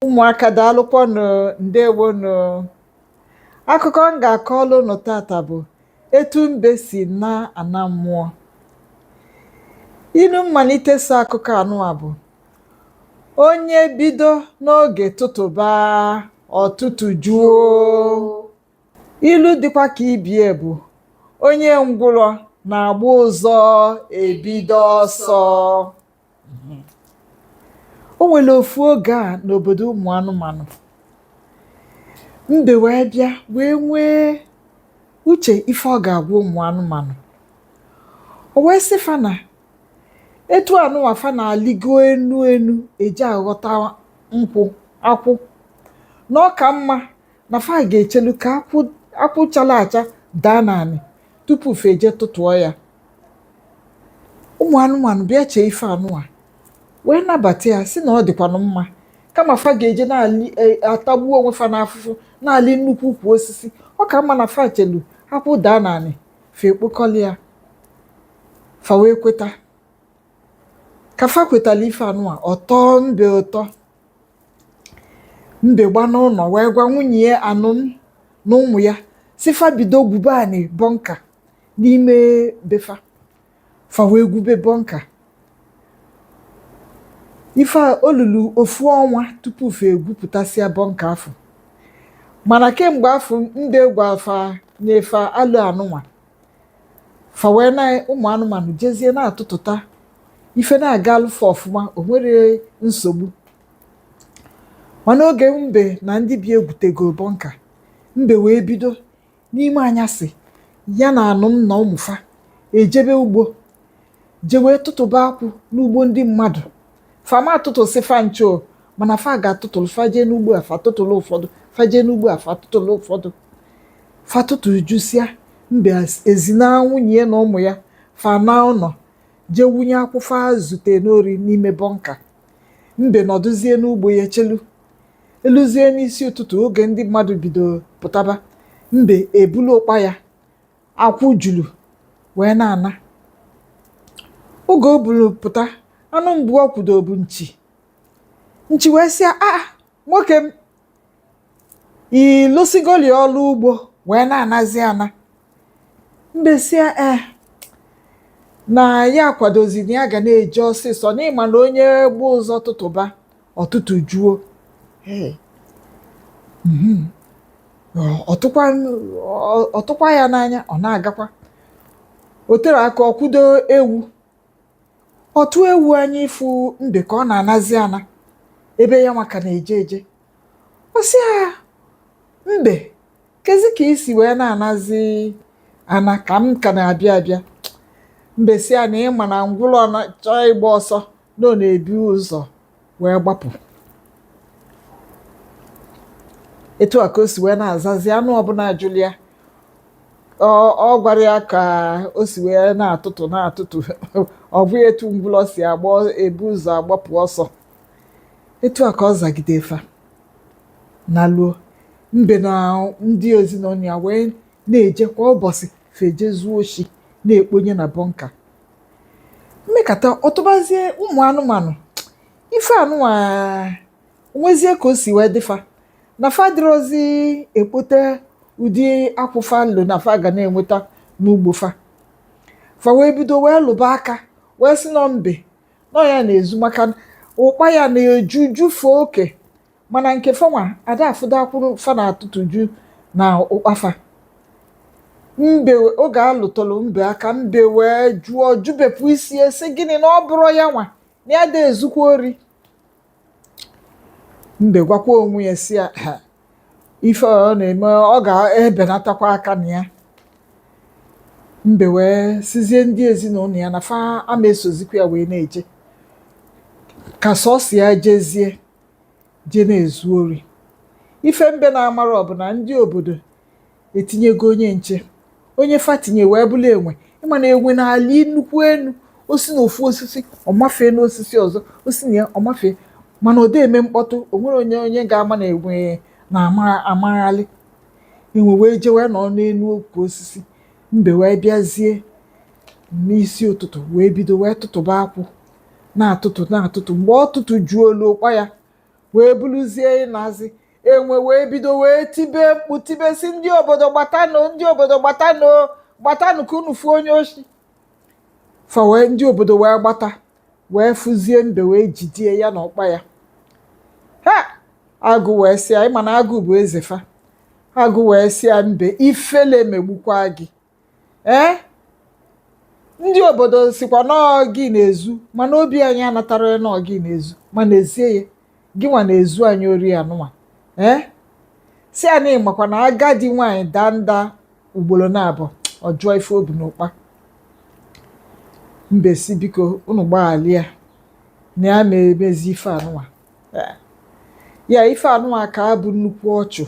ụmụaka daalụkwanụ ndewonụ akụkọ m ga-akọlụ ụnụ tata bụ etu mbe si naa ana mmụọ inu mmalite so akụkọ anụwa bụ onye bido n'oge tụtụba ọ tụtụjuo Ilu dịkwa ka ibie bụ onye ngwụrọ na-agba ụzọ ebido ọsọ. O nwere ofu oge a n'obodo ụmụ anụmanụ. Mbe wee bịa wee nwee uche ife ọ ga-agwa ụmụ anụmanụ. O wee sị fa na etu anụnwa fa na-alịgo enu enu eje aghọta nkwụ akwụ na ọ ka mma na fa ga-echelu ka akwụ chala acha daa n'anị tupu fa eje tụtụọ ya ụmụ anụmanụ bịa chee ife anụwa wee nabata ya sị na ọ dịkwanụ mma kama fa ga-eje na-atagbu onwe fa n'afụfụ na-alị nnukwu ukwu osisi ọ ka mma na fa chelu akwụ daa n'anị fa ekpokọli ya fa wee kweta ka fa kwetala ife anụwa ọ tọọ mbe ụtọ mbe gbanaa ụnọ wee gwa nwunye ya anụm na ụmụ ya sị fa bido gwube anị bọnka n'ime be fa fa wee gwube bọnka ife a o lulu ofu ọnwa tupu fa egwupụtasịa bọnka afụ mana kemgbe afụ mbe gwa fa nye fa alo anụnwa fa wee na ụmụ anụmanụ jezie na-atụtụta ife na-agalụ fa ọfụma o nwerọ nsogbu mana oge mbe na ndị bie egwutego bọnka mbe wee bido n'ime anyasị ya na anụm na ụmụ fa ejebe ugbo je wee tụtụba akwụ n'ugbo ndị mmadụ fa ama atụtụsị fa ncha o mana fa ga-atụtụlụ fa je n'ugbo a fa tụtụlụ ụfọdụ fa je n'ugbo a fa tụtụlụ ụfọdụ fa tụtụjusịa mbe ezinaa nwunye ya na ụmụ ya fa anaa ụnọ je wụnye akwụ fa zute n'ori n'ime bọnka mbe nọdụzie n'ugbo ya chelu eluzie n'isi ụtụtụ oge ndị mmadụ bido pụtaba mbe ebulu ụkpa ya akwụ julu wee na-ana oge o bulu pụta anụ mbụ o kwudo bụ nchi nchi wee sị ya aa nwoke m ị lụsịgolị ọlụ ugbo wee na-anazi ana mbe sị ya ee na ya akwadozi na ya ga na-eje ọsịsọ n'ị ma na onye gba ụzọ tụtụba ọ tụtụjuo mhm. ọ tụkwa ya n'anya ọ na-agakwa o tere aka o kwudo ewu ọ tụ ewu anya ịfụ mbe ka ọ na-anazi ana ebe ya nwa ka na-eje eje ọ sị ya mbe kezi ka i si wee na-anazi ana ka m ka na-abịa abịa mbe sị ya na ị ma na ngwụlọ chọọ ịgba ọsọ na ọ na-ebu ụzọ wee gbapụ etu a ka o si wee na-azazi anụ ọbụna jụlụ ya ọ gwarọ ya ka o si wee na-atụtụ na-atụtụ ọ bụ ya etu ngwụlọ si agba ebu ụzọ agbapụ ọsọ etu a ka ọ zagide fa naluo mbe na ndị ezinụnọ ya wee na-eje kwa ụbọsị fa eje zuo oshi na-ekponye na bọnka emekata ọ tụbazie ụmụ anụmanụ ife anụnwa nwezie ka o si wee dị fa na fa adịrọzi ekpota ụdị akwụ fa lo na fa ga na-enweta n'ugbo fa fa wee bido wee lụba aka wee sị na ọ mbe na ọ ya na-ezu maka na ụkpa ya na-eju jufe oke mana nke fa nwa ada afụdo akwụ fa na-atụtụju na ụkpa fa mbe oge a lụtụlụ mbe aka mbe wee jụọ jụbepụ isi sị gịnị na ọ bụrọ ya nwa na ya ada ezukwa ori mbe gwakwa onwe ya sị ya ife ọ na-eme ọ ga-ebenatakwa aka na ya mbe wee sịzie ndị ezinụnọ ya na fa ama esozikwa ya wee na-eje ka sọsọ ya jezie je na-ezu ori ife mbe na-amarọ bụ na ndị obodo etinyego onye nche onye fa tinye wee bụlụ enwe ị ma na enwe na-alị nnukwu enu o si na ofu osisi ọ mafee n'osisi ọzọ o si na ya ọ mafee mana ọ da eme mkpọtụ o nwerọ onye ga-ama na enwe na-amaghalị enwe wee jee wee nọ n'enu ukwu osisi mbe wee bịazie n'isi ụtụtụ wee bido wee tụtụba akwụ na-atụtụ na-atụtụ mgbe ọ tụtụjuolu ụkpa ya wee buluzie ịnazi enwe wee bido wee tibe mkpu tibe sị ndị obodo gbatanụ ndị obodo gbatanụ gbatanụ ka unu fụ onye oshi fa wee ndị obodo wee gbata wee fụzie mbe wee jide ya na ụkpa ya ha agụ wee sị ya ị ma na agụ bụ eze fa agụ wee sị ya mbe ifele megbukwa gị ee ndị obodo sịkwa na ọ gị na-ezu mana obi anyị anatarọ ya na ọ gị na-ezu ma n'ezie ya gị nwa na-ezu anyị ori anụnwa ee sị ya na ị makwa na agadi nwaanyị daa nda ugbolo naabụọ a jụọ ife o bu n'ụkpa mbe sị biko unu gbaghalụ ya na ya ama emezi ife anụnwa ya ife anụwa ka a bụ nnukwu ọchụ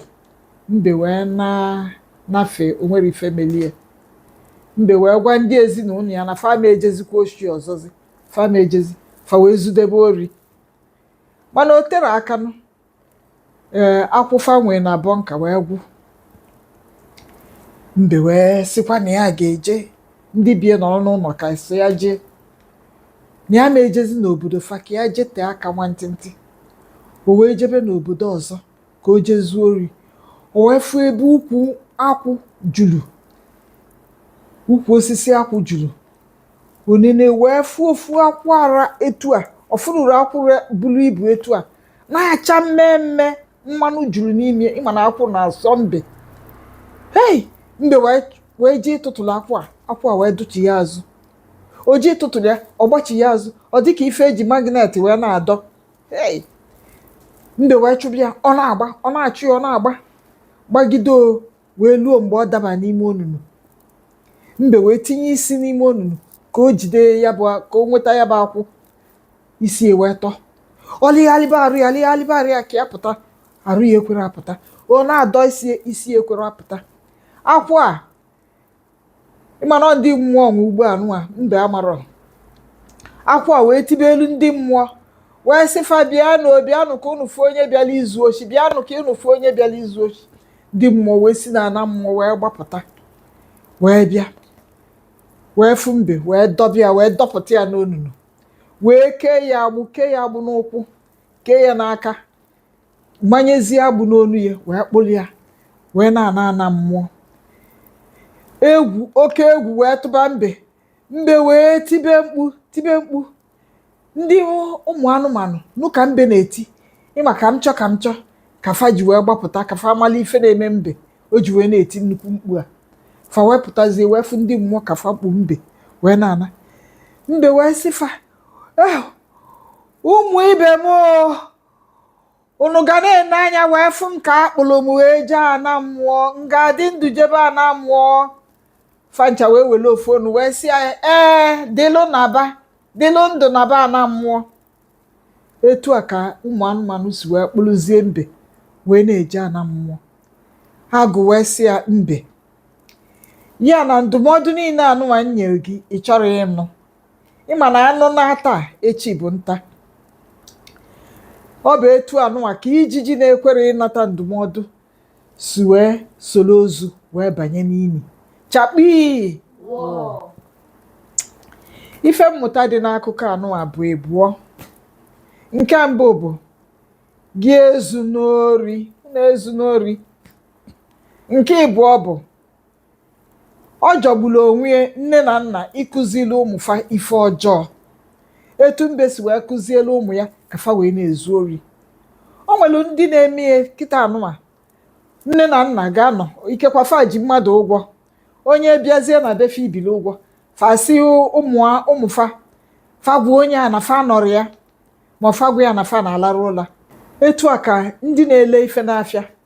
mbe wee nanafe o nwerọ ife melie mbe wee gwa ndị ezinụlọ ya na fa ma ejezikwa oshi ọzọzi fa ma ejezi fa wee zudebe ori mana o terọ aka nụ ee akwụ fa nwee na bọnka wee gwụ mbe wee sịkwa na ya ga-eje ndị be ya nọrọ n'ụlọ ka sọ ya jee na ya ma ejezi n'obodo fa ka ya jete aka nwantịntị o wee jebe n'obodo ọzọ ka o jezuo ori o wee fụ ebe ukwu akwụ juru ukwu osisi akwụ juru o nene wee fụ ofu akwụ ra etu a ọ fụrụrụ akwụ re- buru ibu etu a na-acha mmee mmee mmanụ juru n'ime ịma na akwụ na-asọ mbe hei mbe wee wee jee ịtụtụrụ akwụ a akwụ a wee dụchi ya azụ o je ịtụtụrụ ya ọ gbachi ya azụ ọ dịka ife eji magnet wee na-adọ ei mbe wee chụba ya ọ na-agba ọ na-achụ ya ọ na-agba gbagide o wee luo mgbe ọ daba n'ime onunu mbe wee tinye isi n'ime onunu ka o jide ya bụ ka o nweta ya bụ akwụ isi ya wee tọ ọ lịgharịba arụ ya lịgharịba arụ ya ka ya pụta arụ ya ekwerọ apụta ọ na-adọ isi isi ekwerọ apụta akwụ a ịma na ndị mmụọ nwe ugbo anụwa mbe amarọ akwụ a wee tibeelụ ndị mmụọ wee sị fa bịanụ bịanụ ka unu fụ onye bịala izu oshi bịanụ ka unu fụ onye bịala izu oshi ndị mmụọ wee si na ana mmụọ wee gbapụta wee bịa wee fụ mbe wee dọba ya wee dọpụta ya n'onunu wee kee ya agbụ kee ya agbụ n'ụkwụ kee ya n'aka manyezie agbụ n'onu ya wee kpụrụ ya wee na-ana ana mmụọ egwu oke egwu wee tụba mbe mbe wee tibe mkpu tibe mkpu ndị ụmụ anụmanụ nụ ka mbe na-eti ịma ka m chọ ka m chọ ka fa ji wee gbapụta ka fa mala ife na-eme mbe o ji wee na-eti nnukwu mkpu a fa wee pụtazie wee fụ ndị mmụọ ka fa kpu mbe wee na-ana mbe wee sị fa eh ụmụ ibe m o unu ga na-ene anya wee fụ m ka a kpụrụ m wee jee ana mmụọ m ga-adị ndụ jebe ana mmụọ fa ncha wee were ofu ọnụ wee sị ya ee dịlụ naba dịlụ ndụ naba ana mmụọ etu a ka ụmụ anụmanụ si wee kpụrụzie mbe wee na-eje ana mmụọ agụ wee sị ya mbe ya na ndụmọdụ niile anụnwa m nyere gị ị chọrọ ịnụ ịma na anụ naa taa echi bụ nta ọ bụ etu anụwa ka ijiji na-ekwerọ ịnata ndụmọdụ si wee solo ozu wee banye n'ini chakpii ife mmụta dị n'akụkọ anụwa bụ ịbụọ nke mbụ bụ gị ezuna ori na ezuna ori nke ịbụọ bụ Ọ jọgburu onwe ya nne na nna ịkụzili ụmụ fa ife ọjọọ etu mbe si wee kụzielu ụmụ ya ka fa wee na-ezu ori o nwere ndị na-eme ya kịta anụwa nne na nna ga-anọ ikekwa fa ji mmadụ ụgwọ onye bịazie na be fa ibili ụgwọ fa si ụmụ a- ụmụ fa fa gwa onye a na fa anọrọ ya ma fa gwa ya na fa na-alarụ ụla etu a ka ndị na-ele ife n'afịa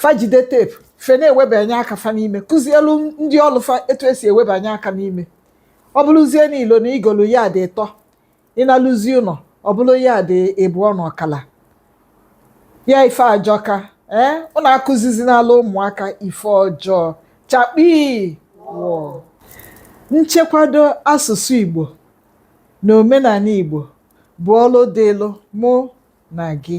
fa jide tape fa na-ewebanye aka fa n'ime kụzielu ndị ọlụ fa etu esi ewebanye aka n'ime ọ bụrụzie na i lo na i golu yard ịtọ ị naluzie ụnọ ọ bụrụ yard ịbụọ na ọkala ya ife ajọka ee ụnụ akụzizinalụ ụmụaka ife ọjọọ chakpii wọọ nchekwado asụsụ igbo na omenanị igbo bụ ọlụ dịlụ mụ na gị